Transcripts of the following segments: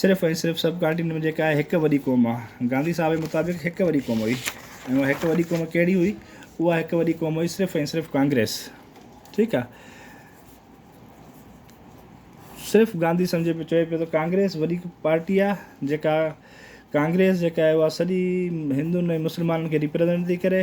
صرف ۽ صرف subcontinent جيڪا آهي هڪ وڏي قوم آهي. گانڌي صاحب جي مطابق هڪ وڏي قوم هئي ۽ اها هڪ وڏي قوم ڪهڙي هئي؟ اها هڪ وڏي قوم هئي صرف ۽ صرف ڪانگريس. ٺيڪ آهي. صرف گانڌي سمجهي پيو چوي پيو ته ڪانگريس وڏي پارٽي آهي جيڪا ڪانگريس جيڪا آهي اها سڄي هندن ۽ مسلمانن کي ريپريزنٽ ٿي ڪري.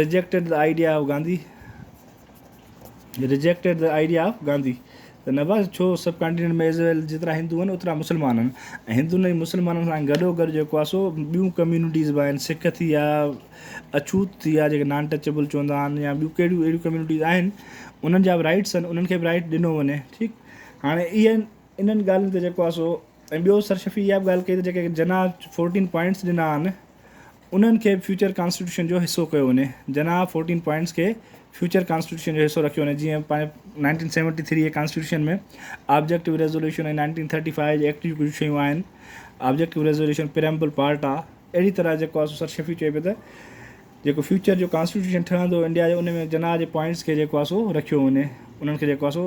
Rejected the idea of Gandhi Rejected the idea of Gandhi ته نواز ڇو سب ڪانٽيننٽ ۾ ايز ويل جيترا هندو آهن اوترا مسلمان آهن ۽ هندن ۽ مسلمانن سان گڏو گڏ جيڪو آهي سو ٻيون ڪميونٽيز به آهن سک ٿي يا اڇوت ٿي يا جيڪي نان ٽچبل چوندا آهن يا ٻيون ڪهڙيون اهڙيون ڪميونٽيز آهن انهن جا به رائٽس آهن انهن کي به رائٽ ڏنو وڃي ٺيڪ هاڻي اهي انهن ڳالهين تي جيڪو آهي سو ۽ ٻيو سرشفي اها به ڳالهه ڪئي ته جيڪي جناح فورٽين پوائنٽس ڏنا آهن انهن کي به فيوچر ڪانسٽيٽيوشن جو حصو ڪيو وڃي، جناح فورٽين پوائنٽس کي فيوچر ڪانسٽيٽيوشن جو حصو رکيو وڃي جيئن پنهنجي نائنٽين سيونٽي ٿري جي constitution ۾ objective resolution ۽ nineteen thirty five جي ايڪٽ جون ڪجهه شيون آهن آبجيڪٽو ريزوليوشن پريمبل پارٽ آهي اهڙي طرح جيڪو آهي سو سر شفيع چئي پيو ته جيڪو فيوچر جو ڪانسٽيٽيوشن ٺهندو انڊيا جو ان ۾ جناح جي پوائنٽس کي جيڪو آهي سو رکيو وڃي انهن کي جيڪو آهي سو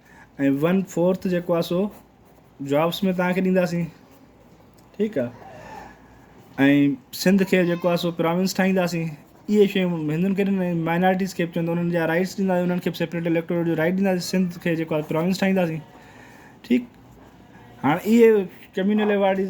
۽ ون فورٿ جيڪو آ سو جابس ۾ تهان کي ڏينداسين ٺيڪ آ ۽ سنڌ کي جيڪو آ سو پراونس ٺاهينداسين اهي شيون هندن کي ڏني مائنارٽيز کي به چوندو انهن جا رائٽس ڏيندا انهن کي سيپريٽ اليڪٽوريٽ جو رائٽ ڏيندا سنڌ کي جيڪو آ پراونس ٺاهينداسين ٺيڪ هاڻ اهي ڪميونل ايوارڊز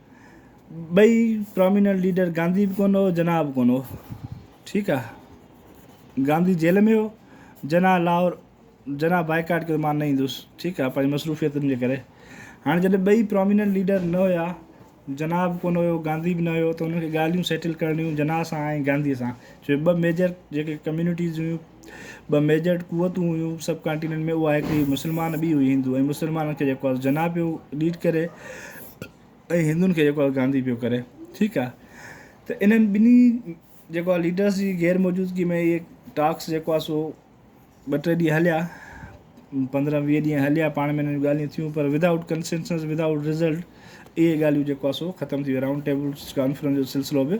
ٻئي پراميننٽ ليڊر گانڌي به ڪونه هو جناح به ڪونه هو ٺيڪ آ گانڌي جيل ۾ هو جناح لاهور جناح بائيڪاٽ ڪيو مان نه ايندس ٺيڪ آ پنهنجي مصروفيتن جي ڪري هاڻي جڏهن ٻئي پراميننٽ ليڊر نه هيا جناح به ڪونه هيو گانڌي به نه هيو ته هن کي ڳالهيون سيٽل ڪرڻيون جناح سان ۽ گانڌي سان ڇو جو ٻه ميجر جيڪي ڪميونٽيز هيون ٻه ميجر قوتون هيون سب ڪانٽيننٽ ۾ اها هڪ هئي مسلمان ٻي هئي هندو ۽ مسلمانن کي جيڪو جناح پيو ليڊ ڪري ۽ هندن کي جيڪو گانڌي پيو ڪري ٺيڪ آ ته انهن ٻنهي جيڪو آ ليڊرس جي غير موجودگي ۾ اهي ٽاڪس جيڪو آ سو ٻه ٽي ڏينهن هليا پندرهن ويهه ڏينهن هليا پاڻ ۾ انهن ڳالهيون ٿيون پر ودائوٽ ڪنسنسس ودائوٽ رزلٽ اهي ڳالهيون جيڪو آ سو ختم ٿي ويو رائونڊ ٽيبل ڪانفرنس جو سلسلو به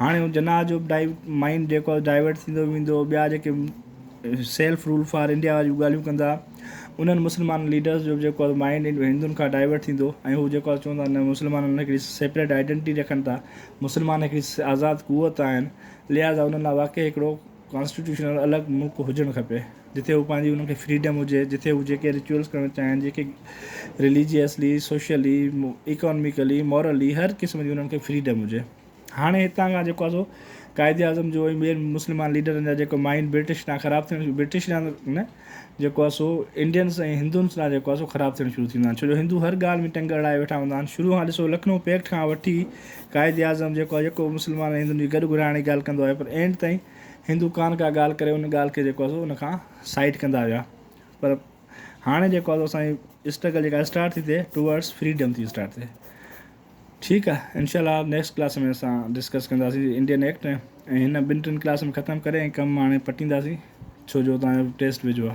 هاڻي هو جناح جو به مائينڊ جيڪو آهي ڊائيورٽ ٿيندو ويندو، ٻيا جيڪي سيلف رول فار انڊيا جون ڳالهيون ڪندا انهن مسلمان ليڊرز جو به جيڪو آهي مائينڊ هندن کان ڊائيورٽ ٿيندو ۽ هو جيڪو آهي چوندا نه مسلمان هڪڙي سيپريٽ آئيڊنٽي رکن ٿا، مسلمان هڪڙي آزاد قوت آهن لهٰذا انهن لاء واقعي هڪڙو ڪانسٽيٽيوشنل الڳ ملڪ هجڻ کپي جتي هو پنهنجي انهن کي فريڊم هجي جتي هو جيڪي رچوئلس ڪرڻ چاهين جيڪي رليجيئسلي سوشلي ايڪانميڪلي مورلي هر قسم جي انهن کي فريڊم هجي هاڻي هتان کان جيڪو آهي سو قائد اعظم جو ۽ ٻين مسلمان ليڊرن جا جيڪو مائنڊ برٽش تان خراب ٿيڻ شروع برٽش نه جيڪو آهي سو انڊينس ۽ هندونس ڏانهن جيڪو آهي سو خراب ٿيڻ شروع ٿيندو آهن ڇو جو هندو هر ڳالهه ۾ ٽنگ اڙائي ويٺا هوندا آهن شروع کان ڏسو لکنو پيڪٽ کان وٺي قائد اعظم جيڪو آهي يڪو مسلمان ۽ هندن جي گڏ گهڙائڻ جي ڳالهه ڪندو آهي پر اينڊ تائين هندو ڪانه ڪا ڳالهه ڪري ان ڳالهه کي جيڪو آهي سو ان کان سائيڊ ڪندا ويا پر هاڻي جيڪو آهي سو اسان جي اسٽرگل جيڪا اسٽارٽ ٿي ٿئي ٽوورڊس فريڊم ٿي اسٽارٽ ٿئي ٺيڪ آ انشاء الله نيڪسٽ ڪلاس ۾ اسان ڊسڪس ڪنداسين انڊين ايڪٽ ۽ هن ٻن ٽن ڪلاسن ختم ڪري ۽ ڪم هاڻي پٽينداسين ڇو جو تهان جو ٽيسٽ ويجهو آ.